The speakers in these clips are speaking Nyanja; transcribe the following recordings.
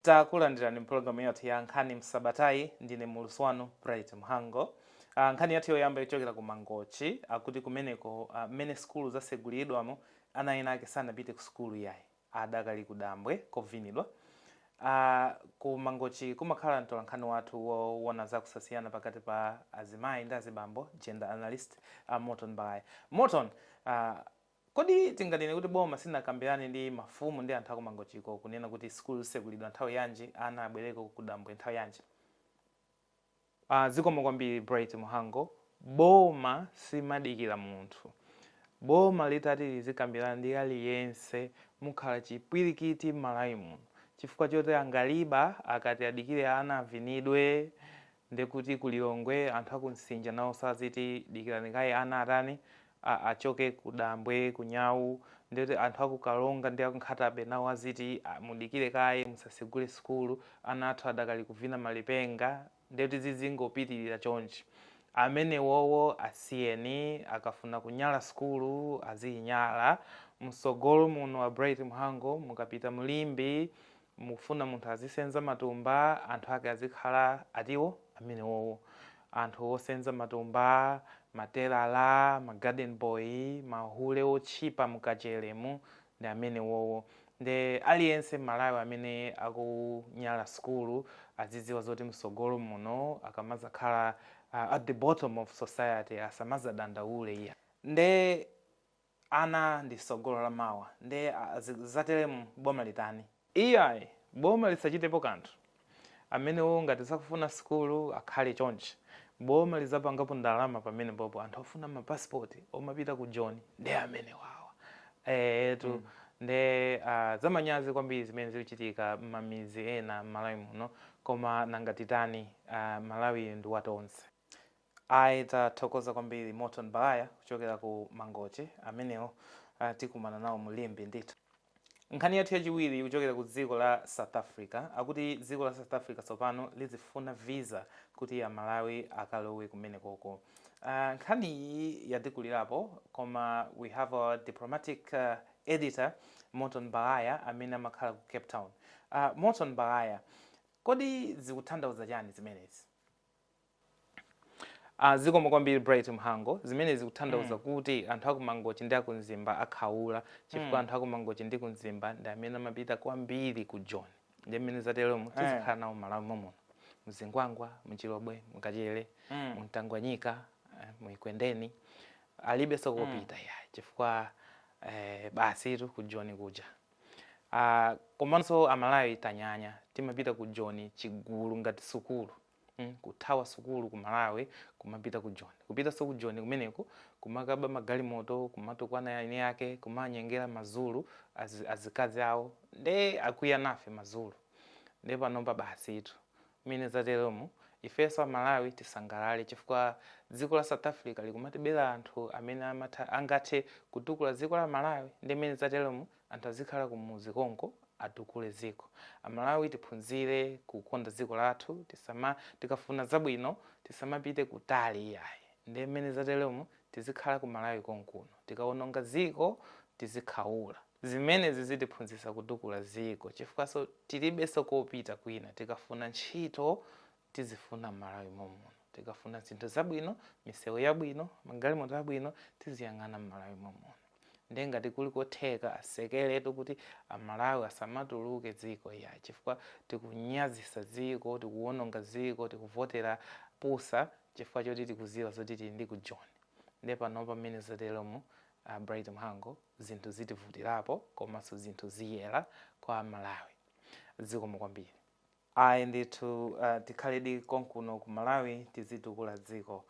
Takulandirani mpulogalamu yathu ya nkhani msabatayi. Ndine muulutsi wanu Bright Mhango. A nkhani yathu yoyamba ikuchokera ku Mangochi. Akuti kumeneko a mmene sukulu zatsegulidwamu ana ena ake sanapite ku sukulu iyayi. Adakali ku dambwe kovinidwa. A ku Mangochi kumakhala mtolankhani wathu wowona za kusasiyana pakati pa azimayi ndi azibambo, gender analyst, a Morton Balaya. Morton, a. Kodi tinganene kuti boma silinakambirane ndi mafumu ndi anthu aku Mangochiko kunena kuti sukulu zitsekulidwa nthawi yanji, ana abwereko kudambwe nthawi yanji? Aaa zikomo kwambiri Bright Mhango, boma silimadikira munthu, boma litati lizikambirana ndi aliyense mukhala chipwirikiti m'Malawi muno chifukwa choti angaliba akati adikire ana avinidwe Nde kuti ku Lilongwe anthu aku Nsinja nawonso aziti dikirani kaye ana atani, a achoke ku dambwe, ku nyau, nde kuti anthu aku Karonga ndi aku Nkhata Bay nawo aziti a mudikire kaye musasegule sukulu ana athu adakali kuvina malipenga, nde kuti zizingopitilira chonchi. Amenewowo asiyeni akafuna kunyala sukulu aziyinyala, msogolo muno a Bright Mhango mukapita mu Limbe mukufuna munthu azisenza matumba anthu ake azikhala atiwo amenewowo anthu osenza matumba matelala ma garden boy mahule otchipa mkacheremu ndi amenewowo nde aliyense m'Malawi amene akunyala sukulu azidziwa zoti msogolo muno akamazakhala uh, at the bottom of society asamazadandaule iyayi nde Ana ndi sogolo la mawa nde zatelemu boma litani? Iyayi boma lisachitepo kanthu amenewo ngati sakufuna sukulu akhale chonchi boma lizapangapo ndalama pamenepopo anthu ofuna ma passport omapita ku joni nde amenewawa eetu nde aah zamanyazi kwambiri zimene zikuchitika mmamidzi ena mmalawi muno koma nanga titani aah malawiyu ndi wa tonse. Ayi tathokoza kwambiri Morton Balaya kuchokera ku Mangochi amenewo ah, tikumana nawo mu Limbe ndithu. Nkhani yathu yachiwiri ikuchokera ku dziko la South Africa akuti dziko la South Africa tsopano lizifuna visa kuti Amalawi akalowe kumenekoko. Ah, nkhani iyi yatikulirapo koma we have our diplomatic ah, editor Morton Balaya amene amakhala ku Cape Town. Ah, Morton Balaya, kodi zikuthandauza chani zimenezi? Ah, zikomo kwambiri bright mhango zimene zikuthandauza mm. kuti anthu akumangochi ndi akumzimba akhaula chifukwa mm. anthu akumangochi ndi kumzimba ndi amene amapita kwambiri ku joni nde mmene zatelomu eh. tizikhala nawo m'Malawi momuno mzingwangwa mchilobwe mkachele mm. mtangwanyika eh, mu Ekwendeni alibenso kopita mm. iyayi chifukwa eh, basitu ku joni kuja Ah, komanso amalawi tanyanya timapita ku joni chigulu ngati sukulu mm, kuthawa sukulu ku malawi kumapita ku joni kupitanso ku joni kumeneko kumakaba magalimoto kumatukwana eni ake kumanyengera mazulu az, azikazi awo nde akwiya nafe mazulu nde panopa basitu Mmene zatelomu, ifenso a Malawi tisangalale chifukwa dziko la South Africa likumatibela anthu amene amatha, angathe kutukula dziko la Malawi nde mmene zatelomu anthu azikhala kumudzi konko atukule dziko. A Malawi tiphunzire kukonda dziko lathu tisama, tikafuna zabwino tisamapite kutali iyayi nde mmene zatelomu tizikhala ku Malawi konkuno, tikawononga dziko tizikhaula. Zimenezi zitiphunzitsa kutukula dziko chifukwaso tilibeso kopita kwina tikafuna ntchito tizifuna mmalawi momuno tikafuna zinthu zabwino misewu yabwino magalimoto abwino tiziyang'ana mmalawi momuno nde ngati kuli kotheka asekeletu kuti amalawi asamatuluke dziko iyayi chifukwa tikunyazisa dziko tikuwononga dziko tikuvotera pusa chifukwa choti tikuziwa zoti tili ndi ku joni nde panopa mmene zateromu A Bright Mhango zinthu zitivutilapo komaso zinthu ziyela kwa a Malawi zikomo kwambiri. Ayi ndithu tikhaledi konkuno ku Malawi tizitukula dziko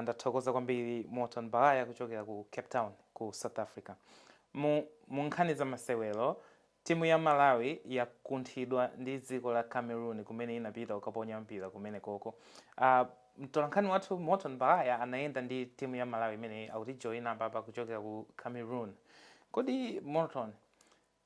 ndathokoza kwambiri Morton Baghaya kuchokera ku Cape Town ku South Africa mu mu nkhani za masewero Timu ya Malawi yakunthidwa ndi dziko la Cameroon kumene inapita kukaponya mpira kumenekoko. Mtolankhani wathu Morton Baghaya anayenda ndi timu ya Malawi imeneyi akutijoyina apapa kuchokera ku Cameroon. Kodi Morton,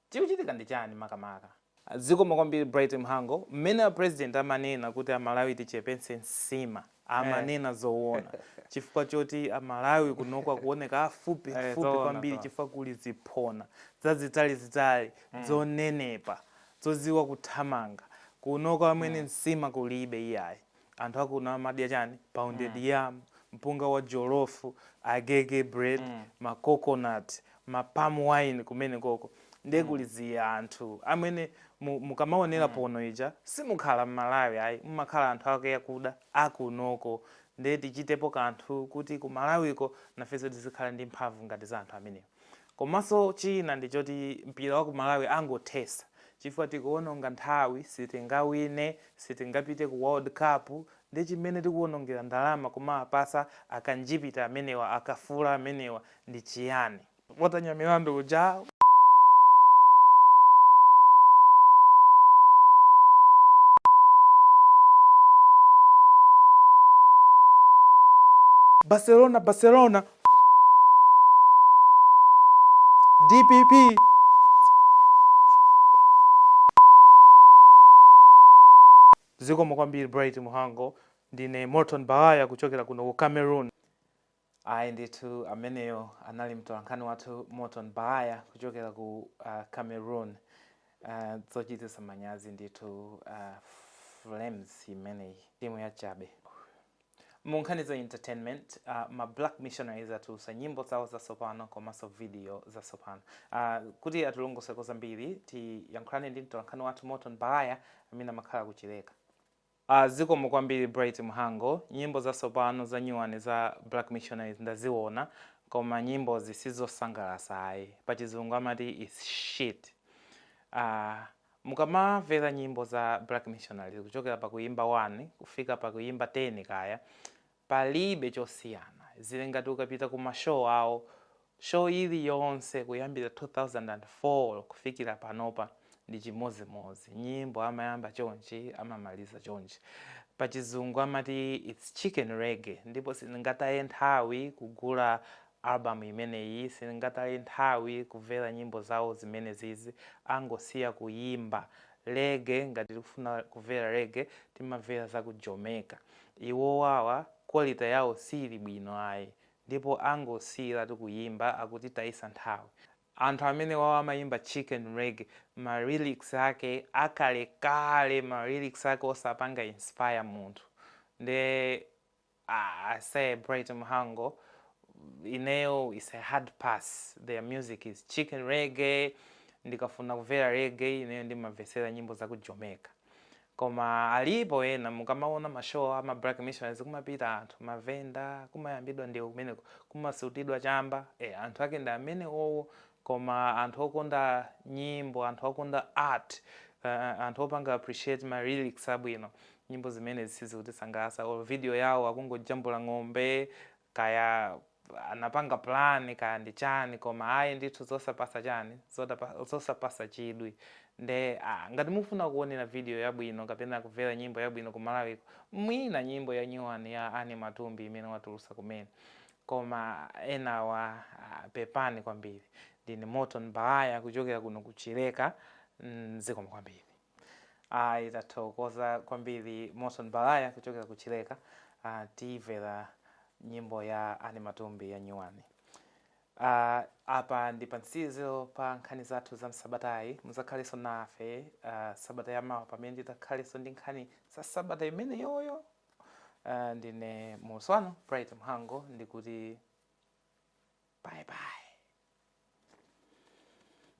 chikuchitika ndi chani makamaka? Zikomo kwambiri Bright Mhango. Mmene a President amanena kuti a Malawi tichepetse nsima. amanena zowona chifukwa choti a Malawi kunoko akuwoneka afupi eh, afupi kwambiri chifukwa kuli ziphona zazitali zitali mm. zonenepa zoziwa kuthamanga kunoko amwene mm. nsima kulibe iyayi anthu akuno amadya chani pounded mm. yam mpunga wa jolofu agege bread mm. ma coconut ma palm wine kumenekoko nde mm. kuli zianthu amwene mukamaonera mm. pono ija simukhala mmalawi ayi mumakhala anthu ake akuda akunoko nde tichitepo kanthu kuti ku malawiko nafenso tizikhala ndi mphamvu ngati za anthu amenewo komanso china ndichoti mpira wa ku malawi angothesa chifukwa tikuononga nthawi sitingawine sitingapite ku world cup Nde chimene tikuonongera ndalama kumawapasa akanjipita amenewa akafula amenewa ndi chiyani? Pota Nyamilandu uja. Barcelona Barcelona dpp Barcelona Barcelona dpp. Zikomo kwambiri Bright Muhango. Ndine Morton Baghaya kuchokera kuno ku Cameroon. Ayi ndithu ameneyo anali mtolankhani wathu Morton Baghaya kuchokera ku uh, Cameroon. Uh, zochititsa manyazi ndithu uh, Flames imeneyi timu yachabe. Mu nkhani za entertainment, ma Black Missionaries atulusa nyimbo zawo zatsopano komaso video zatsopano. Kuti atilongoseko zambiri, tiyankhulane ndi mtolankhani wathu Morton Baghaya amene amakhala ku Chileka. Zikomo kwambiri Bright Mhango. Nyimbo zatsopano za nyuwani za Black Missionaries ndaziwona, koma nyimbozi sizosangalasa ayi. Pachizungu amati it's shit. Aaa. Mukamavela nyimbo za Black Missionaries kuchokela pa kuyimba 1 kufika pa kuyimba 10 kaya, palibe chosiyana. Zili ngati ukapita ku ma show awo, show iliyonse kuyambira 2004 kufikira panopa ndi chimodzimodzi. Nyimbo amayamba chonchi amamaliza chonchi. Pa chizungu amati it's chicken reggae ndipo sindingataye nthawi kugula Album imeneyi sindingataye nthawi kuvela nyimbo zawo zimenezizi angosiya kuyimba Reggae ngati tikufuna kuvela Reggae timavela zaku Jamaica iwowawa quality yawo siili bwino ayi ndipo angosiyilatu kuyimba akutitayisa nthawi anthu amenewawa amayimba Chicken Reggae ma Lyrics ake akalekale ma Lyrics ake osapanga inspire munthu nde Ah, I say Bright Mhango, ineyo it's a hard pass. Their music is chicken reggae. Ndikafuna kumvera reggae, ineyo ndimamvetsera nyimbo za ku Jamaica. Koma alipo ena mukamaona mashow ama Black Missionaries kumapita anthu mavenda kumayambidwa ndewu kumeneko kumasutidwa chamba. Eh, anthu ake ndi amene owo koma anthu okonda nyimbo anthu okonda art uh, anthu opanga appreciate ma lyrics abwino nyimbo zimenezi sizikutisangalatsa or video yawo akungojambula ng'ombe kaya anapanga plan kaya ndi chani koma ayi ndithu zosapasa chani zotapa- zosapasa chidwi nde ah, ngati mufuna kuonera video yabwino kapena kumvera nyimbo yabwino ku malawiko mwina nyimbo ya nyuwani ya Annie Matumbi imene watulusa kumene koma enawa ah, pepani kwambiri ndine morton baghaya kuchokera kuno ku chileka mm, zikomo kwambiri ayi tathokoza kwambiri morton baghaya kuchokera ku chileka ah, timvera nyimbo ya anne matumbi ya nyuwani Ah, apa ndi pansizo pa nkhani zathu za msabatayi muzakhalenso nafe ah, sabata yamawa pamene tidzakhalenso ndi nkhani za sabata imeneyoyo Uh, ndine mulusi wanu Bright Mhango ndikuti bye bye.